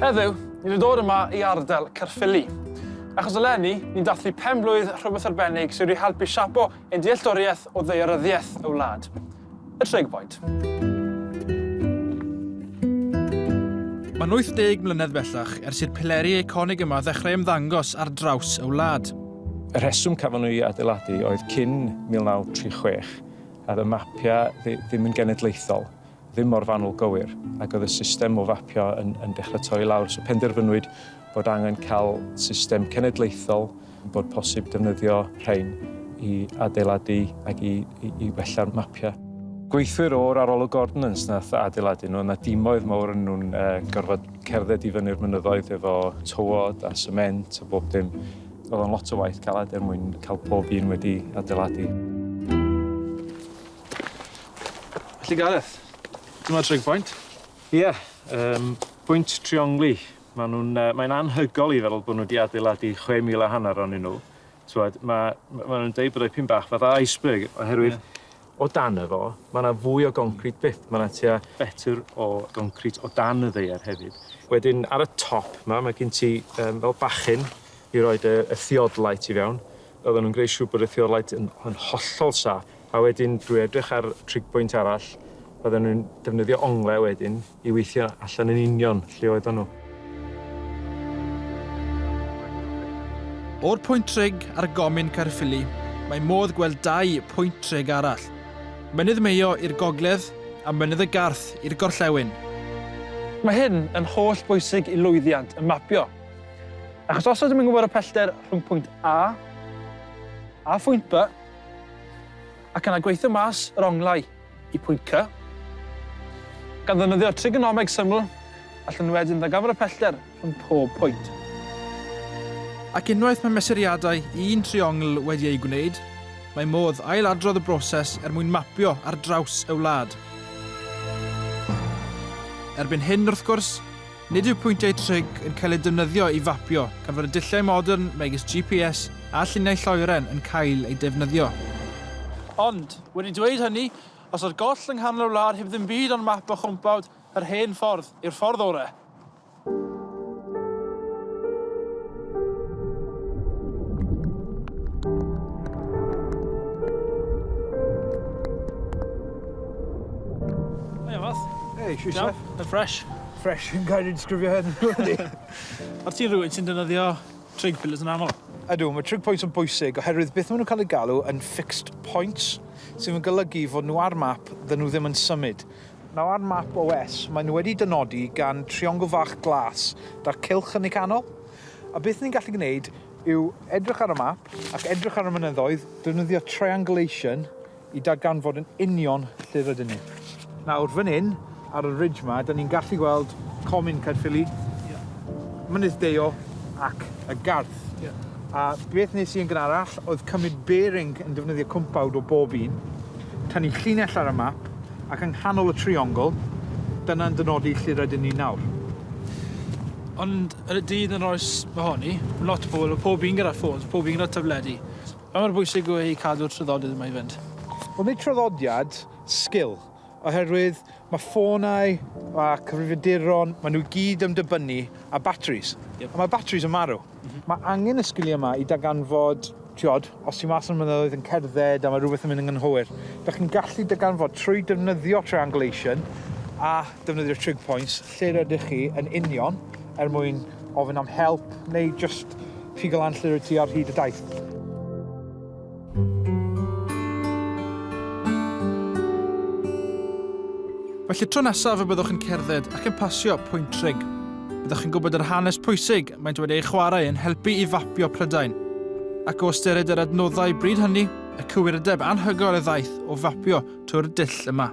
Heddiw, ni wedi dod yma i ardal Caerffili. Achos eleni, ni'n dathlu pen blwydd rhywbeth arbennig sydd wedi helpu siapo ein dealltwriaeth o ddeoryddiaeth y wlad. Y Tregboint. Mae'n 80 mlynedd bellach ers i'r pileri eiconig yma ddechrau ymddangos ar draws y wlad. Y rheswm cafon nhw i adeiladu oedd cyn 1936 oedd y mapiau ddim yn genedlaethol, ddim mor fanwl gywir, ac oedd y system o fapio yn, yn dechrau torri lawr. So penderfynwyd bod angen cael system cenedlaethol, bod posib defnyddio rhain i adeiladu ac i, i, i wella'r mapiau. Gweithwyr o'r arolwg ordnans nath adeiladu nhw, yna dimoedd mawr yn nhw'n uh, gorfod cerdded i fyny'r mynyddoedd efo tywod a sement a bob dim. Oedd o'n lot o waith caled er mwyn cael pob un wedi adeiladu. Felly Gareth, dyma trig pwynt. Ie, yeah, um, pwynt triongli. Mae'n uh, mae anhygol i feddwl bod nhw wedi adeiladu 6,000 a hanner o'n nhw. Mae, ma nhw'n dweud bod eu pyn bach fatha iceberg oherwydd yeah O dan y fo, mae yna fwy o goncrit byth, mae yna tua fetr o goncrit o dan y ddaear hefyd. Wedyn ar y top 'ma, mae gen ti yym fel bachyn i roi dy y theodolite i fewn. Oedden nhw'n gwneud siŵr bod y theodolite yn yn hollol saff, a wedyn drwy edrych ar trig pwynt arall, oedden nhw'n defnyddio ongle wedyn i weithio allan yn union lle oeddan nhw. O'r pwynt trig ar Gomin Caerffili, mae modd gweld dau pwynt trig arall, Mynydd Mayo i'r gogledd a Mynydd y Garth i'r gorllewin. Mae hyn yn holl bwysig i lwyddiant y mapio, achos os ydym yn gwybod y pellter rhwng pwynt A a phwynt B, ac yna gweithio mas yr onglau, y pwynt C. Gan ddefnyddio trigonomeg syml, allwn ni wedyn ddarganfod y pellter rhwng pob pwynt. Ac unwaith mae mesuriadau un triongl wedi eu gwneud, mae modd ail-adrodd y broses er mwyn mapio ar draws y wlad. Erbyn hyn, wrth gwrs, nid yw pwyntiau trig yn cael eu defnyddio i fapio gan fod y dulliau modern megis GPS a lluniau lloeren yn cael eu defnyddio. Ond, Wedi dweud hynny, os o'r goll yng nghanol y wlad heb ddim byd ond map a chwmpawd, yr hen ffordd yw'r ffordd orau. Hei, Fath. Hei, Siwsef. Iawn, yn ffresh. Ffresh yn cael ei ddisgrifio hyn. O't ti'n rhywun sy'n defnyddio Trig pillars yn aml. Ydw, mae trig points yn bwysig oherwydd beth maen nhw'n cael eu galw yn fixed points, sydd yn golygu fod nhw ar map dda nhw ddim yn symud. Nawr ar map OS maen nhw wedi dynodi gan triongl fach glas da'r cylch yn ei canol, a beth ni'n gallu gwneud yw edrych ar y map ac edrych ar y mynyddoedd, defnyddio triangulation, i darganfod yn union lle rydyn ni. Nawr, fan hyn, ar y ridge 'ma, 'dan ni'n gallu gweld Comin Caerffili, Mynydd Deio ac y Garth. A beth nes i yn gynharach oedd cymryd bearing yn defnyddio cwmpawd o bob un, tynnu llinell ar y map, ac yng nghanol y triongl, dyna'n dynodi lle rydyn ni nawr. Ond yn y dydd yn yr oes mahoni, lot o pobl, oedd pob un gyda ffôns, pob un gyda tabledi. Pa mor bwysig yw e i cadw'r traddodiad yma i fynd? Wel nid traddodiad, sgil. Oherwydd mae ffonau a cyfrifiaduron, maen nhw i gyd yn dibynnu ar batris. Yep. A mae batris yn marw. Mm -hmm. Mae angen y sgiliau yma i daganfod, tiod, os ti mas yn mynyddoedd yn cerdded a mae rhywbeth yn mynd yn gynhwyr, da chi'n gallu daganfod trwy defnyddio triangulation a defnyddio trig points, Lle rydych chi yn union er mwyn ofyn am help neu just pigo lan lle rydych chi ar hyd y daith. Felly tro nesaf y byddwch yn cerdded ac yn pasio pwynt trig. Byddwch chi'n gwybod yr hanes pwysig mae'n dweud ei chwarae yn helpu i fapio Prydain. Ac o ystyried yr adnoddau bryd hynny, y cywirdeb anhygoel y ddaeth o fapio trwy'r dull yma.